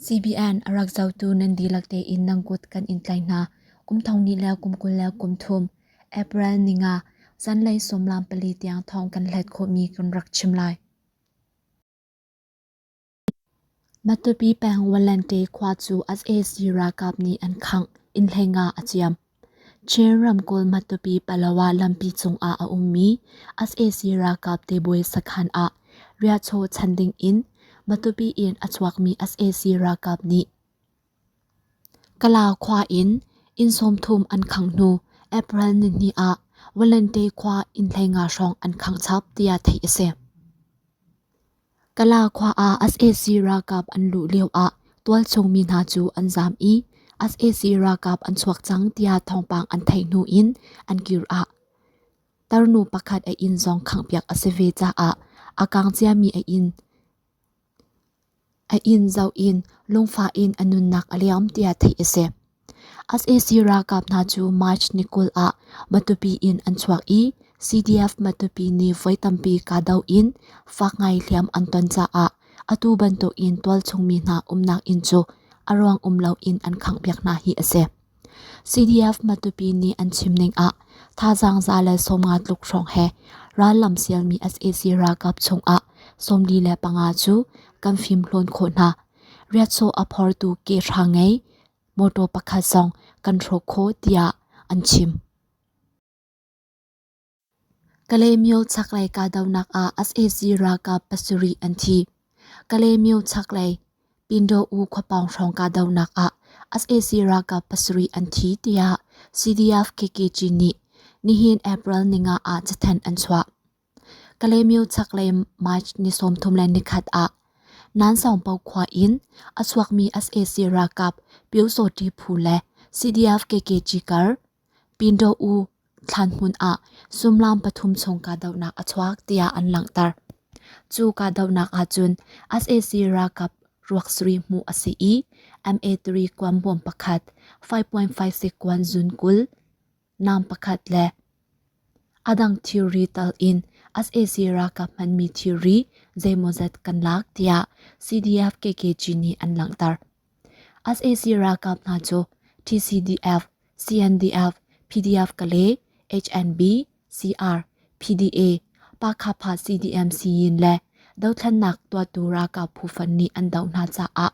CBN a rak zotu nan dihlak tein nan kut kan in tlaih hna. Kum thong ni le kum kul le kum thum April ni nga zanlei sawmlam pali tiang thawng kan hlet khawhmi kan rak chim lai. Matupi peng Walante khua cu as ralkap nih an khangh in hleinga a ciam. Chin ramkulh Matupi Palawa lampi cungah a ummi sac ralkap tebawi sakhan ah riahchaw chan ding in Matupi in a chuakmi sac ralkap nih Kala khua in inn sawmthum an khangh hnu April nihnih ah Walente khua inn hleinga hrawng an khangh chap tiah theih a si. Kala khua ah sac ralkap an luh lioah tualchungmi hna cu an zaam i sac ralkap an chuak cang tiah thawngpang an theih hnu in an kir ah tarnu pakhat a inn zong khanghpiak a si ve caah a kang ciami a inn zoh in lungfah in a nunnak a liam tiah theih a si. sac ralkap hna cu march ni kul ah matupi in an chuak i cdf matupi nih voi tampi kahdoh in fak ngai hliam an ton caah atu bantuk in tualchungmi hna umnak inn cu a ruang um loin an khanghpiak hna hi a si cdf matupi nih an chimning ah thazaang za le sawmnga tluk hrawng he rallam sialmi sac ralkap chungah sawmli le panga cu kan fimhlawn khawh hna riatsaw a phortu ke hrangei Mawṭaw pakhat zong kan hrawk khawh tiah an chim. Kalemyo chaklei kahdohnak ah sac ralkap pasarih an thi. Kalemyo chaklei Pindaw-u khuapawng hrawng kahdohnak ah sac ralkap pasarih an thi tiah CDF KKG nih nihin April ni nga ah cathanh an chuah. Kalemyo chaklei March ni sawmthum le nikhat ah Nansawngpo khua in a chuakmi sac ralkap Pyosotti phu le CDF-KKG kar Pindaw-u thlanhmun ah sullam pathum chung kahdohnak a chuak tiah an langhter. Cu kahdohnak ahcun sac ralkap ruak sarih hmuh a si i MA3 kuan bawm pakhat, 5.56 kuan zun kul, Nam pakhat le a dang thilri tal in sac ralkap hmanmi thilri zeimawzat kan lak tiah CDF KKG nih an langhter. sac ralkap hna cu TCDF, CNDF, PDF Kale, HNB, CR, PDA, Pakhafa CDM Siyin le dothlannak tuahtu ralkap phufan nih an doh hna caah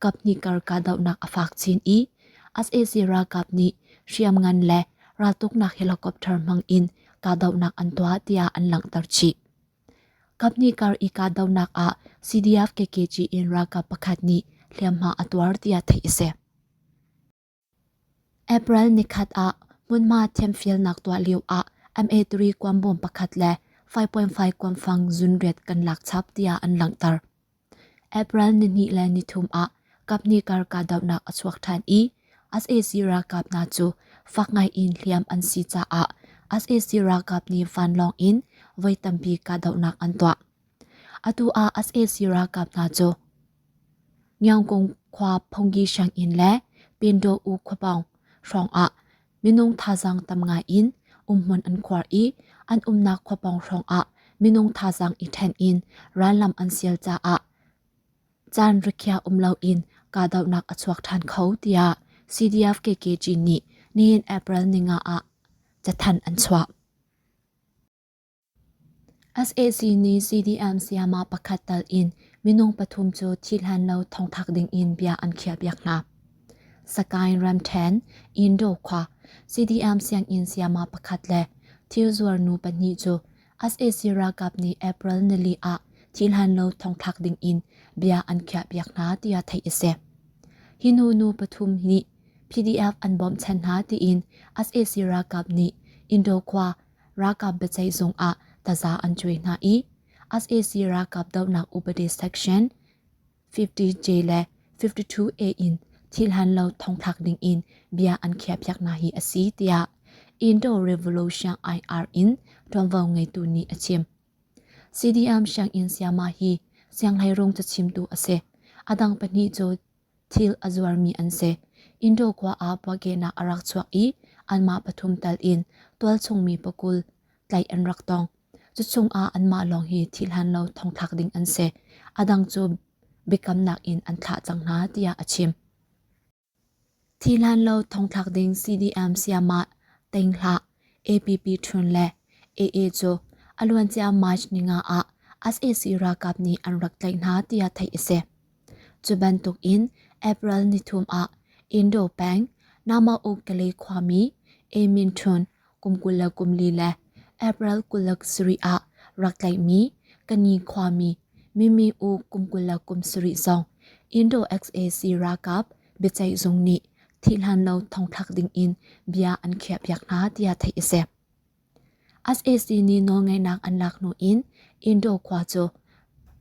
kaphnih kar kahdohnak a fak chin i SAC ralkap nih hriamngan le raltuknak helicopter hmang in kahdohnak an tuah tiah an langhter chih. Kaphnih kar i kahdohnak ah CDF KKG in ralkap pakhat nih hliamhma a tuar tiah theih a si. April nikhat ah hmunhma thiamfialnak tuah lioah MA3 kuambawm pakhat le 5.5 kuamfang zunriat kan lak chap tiah an langhter. April nihnih le nithum ah kapni kar kahdohnak a chuak ṭhan i sac ralkap hna cu fak ngai in hliam an si caah sac ralkap nih vanlawng in voi tampi kahdohnak an tuah. Atu ah sac ralkap hna cu Ngiangkung khua phungki sianginn le Pindaw-u khua pawng hrawngah minung thazaang tam ngai in umhmun an khuar i an umnak khua pawng hrawngah minung thazaang i ṭhen in rallam an sial caah caan rikhiah um loin kahdohnak a chuak ṭhan kho tiah CDF KKG nih nihin April ni nga ah cathanh an chuah. sac nih CDM sayama pakhat tal in minung pathum cu thi hlan lo thongthak ding in bia an khiahpiak hna. Sakain Ramthen, Indo khua, CDM sianginn sayama pakhat le thilzuar nu pahnih cu sac ralkap nih April nili ah thi hlan lo thongthak ding in bia an khiahpiak hna tiah theih a si. Hi nu nu pathum nih PDF an bawmh chan hna tiin sac ralkap nih Indo khua ralkap biaceih zungah taza an cuai hna i sac ralkap dohnak upadi section 50j le 52a in thilhan lo thongthlak ding in bia an khiahpiak na hi asi tiah Indo Revolution IR in ṭuanvo ngeitu nih a chim. CDM sianginn siama hi sianghlei rung cachimtu a si. A dang pahnih cu thil a zuarmi an si. Indo khua ah puahkehnak a rak chuak i anmah pathum tal in tualchungmi pakul tlaih an rak tong. Cuchung ah anmah lawng hi thil hlan lo thongthlak ding an si. A dang cu biakamnak in an thlah cang hna tiah a chim. Thi hlan lo thongthlak ding CDM sayamah teng hlah APP ṭhun le AA cu a luancia March ni nga ah SAC ralkap nih an rak tlaih hna tiah theih a si. Cu bantukin April nithum ah Indo peng Namaukale khuami A. Min Thun kum kul le kum li le April kul le sarih ah rak tlaihmi Kani khuami Mimi U kum kul le kum sarih zong Indo XAC ralkap biaceih zung nih thihhlan lo thongthlak dingin bia an khiahpiak hna tiah theih a si. sac nih nawlngeihnak an lak hnu in indo khua cu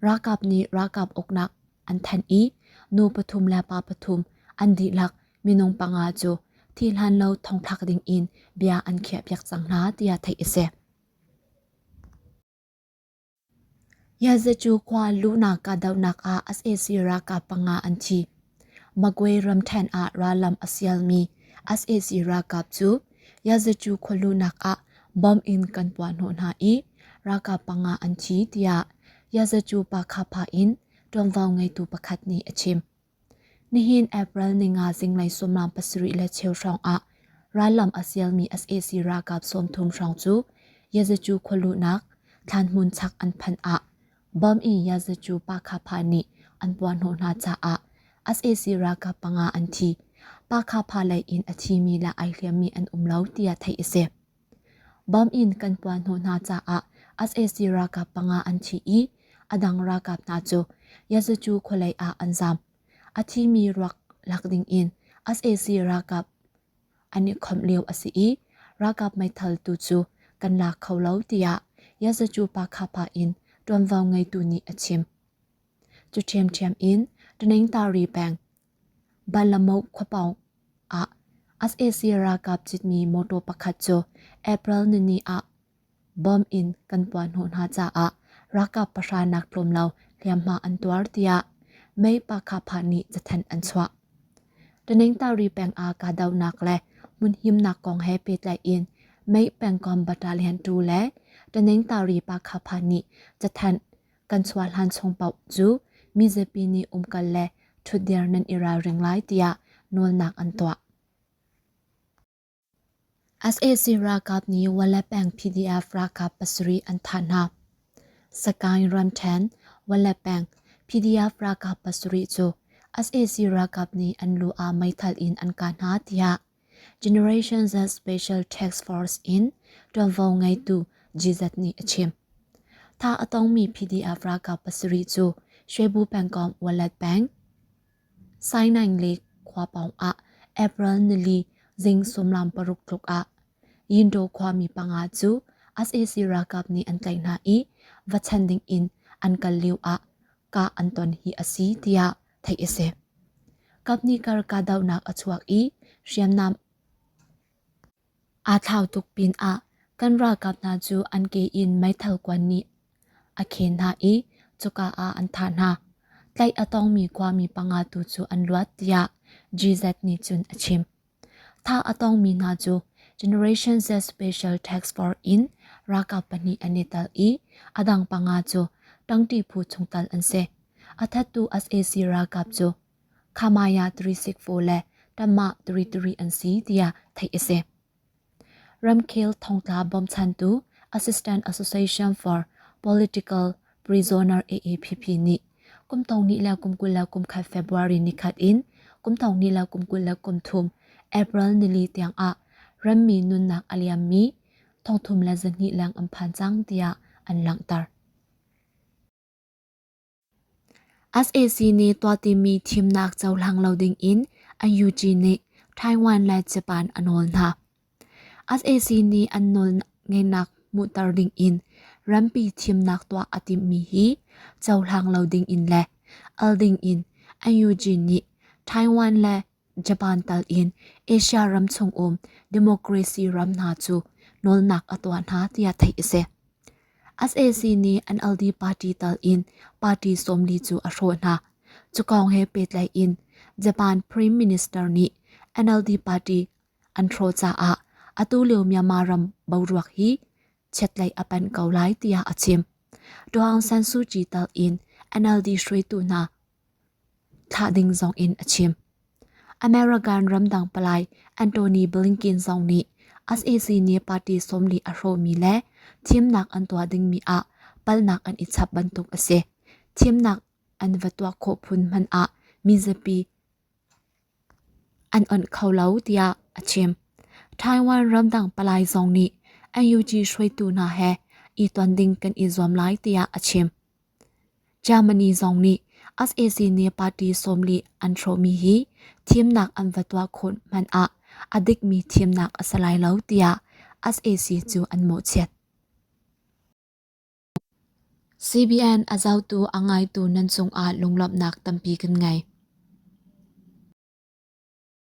ralkap nih ralkap uknak an thanh i nu pathum le pa pathum an dihlak minung panga cu thi hlan lo thongthlak ding in bia an khiahpiak cang hna tiah theih a si Yazecu khua luhnak kahdohnak ah sac ralkap panga an thi. Magwe ramthen ah rallam a sialmi sac ralkap cu Yazecu khualuhnak ah bomb in kan puah hnawh hna i ralkap panga an thi tiah Yazecu Pakha pha in ṭuanvo ngeitu pakhat nih a chim. Nihin April ni nga zinglei sawmlam pasarih le cheu hrawng ah rallam a sialmi sac ralkap sawmthum hrawng cu Yazacu khualuhnak thlanhmun chak an phanh ah bom in Yazacu Pakha-pa nih an puahhnawh hna caah sac ralkap panga an thi. Pakha-pa lei in a thimi le ai hliammi an um lo tiah theih a si. Bom in kan puan hnawh hna caah sac ralkap panga an thi i a dang ralkap hna cu Yazucu khualei ah an zaam. A thimi ruak lak ding in sac ralkap an i khawmh lio a si i ralkap meithal tu cu kan lak kho lo tiah Yazucu Pakha-pa in ṭuanvo ngeitu nih a chim. Cu ṭhiamṭhiam in Ṭaneng Tari peng Banlamau khuapawng ah sac ralkap citmi motor pakhat cu April nini ah bomb in kan puahhnawh hna caah ralkap pahra nak tlawm lo hliamhma an tuar tiah mei Pakha-Pha nih cathanh an chuah. Tanengtari peng ah kahdohnak le hmunhimnak kong he pehtlaiin mei pengkomh battalion tu le Tanengtari Pakha-Pha nih cathanh kan chuahhlan chung paoh cu mizapi nih umkal le ṭhutdir nan i ralring lai tiah nawlnak an tuah. SAC ralkap nih Wale peng PDF ralkap pasarih an thah hna. Sakaing ramṭhen Wale peng PDF ralkap pasarih cu SAC ralkap nih an lu ah meithal in an kah hna tiah Generations as special tax force in ṭuanvo ngeitu GZ nih a chim. Tha a tongmi PDF ralkap pasarih cu Shebu pengkomh Wallet Bank, Sainang le Khuapawng ah April nili zing sumlam paruk tluk ah Yindaw khuami panga cu sac ralkap nih an tlaih hna i va chan ding in an kal lio ah kah an ton hi a si tiah theih a si. Kap nih kar kahdohnak a chuak i hriamnam aa thlau tuk pinah kan ralkap hna cu an ke in meithal kuan nih a khen hna i cuka ah an thah hna. Tlaih a tongmi khuami panga tu cu an luat tiah GZ nih cun a chim. Tha a tongmi hna cu Generation Z Special Tax Force in ralkap pahnih an i tel i a dang panga cu ṭangṭi phu chungtel an si. A thattu sac ralkap cu Khamaya 364 le Tama 33 an si tiah theih a si. Ramkhel thongtla bawmchantu Assistant Association for Political Prisoner AAPP nih kum tong ni le kum kul le kum khat February ni khat in kum tong ni le kum kul le kum thum April nili tiang ah rammi nunnak a liammi thongthum le zahnih leng an phan cang tiah an langhter. sac nih tuahtimmi thimnak cohlang lo dingin NUG nih Taiwan le Japan a nawl hna. sac nih an nawlngeihnak hmuhter dingin rampi thimnak tuah a timhmi hi cohlang lo dingin le al dingin NUG nih Taiwan le Japan tal in Asia ram chung um democracy ram hna cu nawlnak a tuah hna tiah theih a si. SAC nih an LD party tal in party sawmli cu a hrawh hna. Cukawng he petlai in Japan Prime Minister nih NLD party an hrawh caah atu lio Myanmar ram boruak hi chiatlei a panh ko lai tiah a chim. Aung San Suu Kyi tal in NLD hruaitu hna thlah ding zongin a chim. American ramdang palai Anthony Blinken zong nih SAC nih party sawmli a hrawhmi le thimnak an tuah dingmi ah palnak an i chap bantuk a si. Thimnak an va tuah khawh phun hmanh ah mizapi an onh kho lo tiah a chim. Taiwan ramdang palai zong nih NUG hruaitu hna he i ton ding kan i zuam lai tiah a chim. Germany zong nih sac nih party sawmli an hrawhmi hi thimnak an va tuah khun hmanh ah a dikmi thimnak a si lai lo tiah sac cu an mawhchiat. CBN a zotu a ngaitu nan cungah lunglawmhnak tampi kan ngei.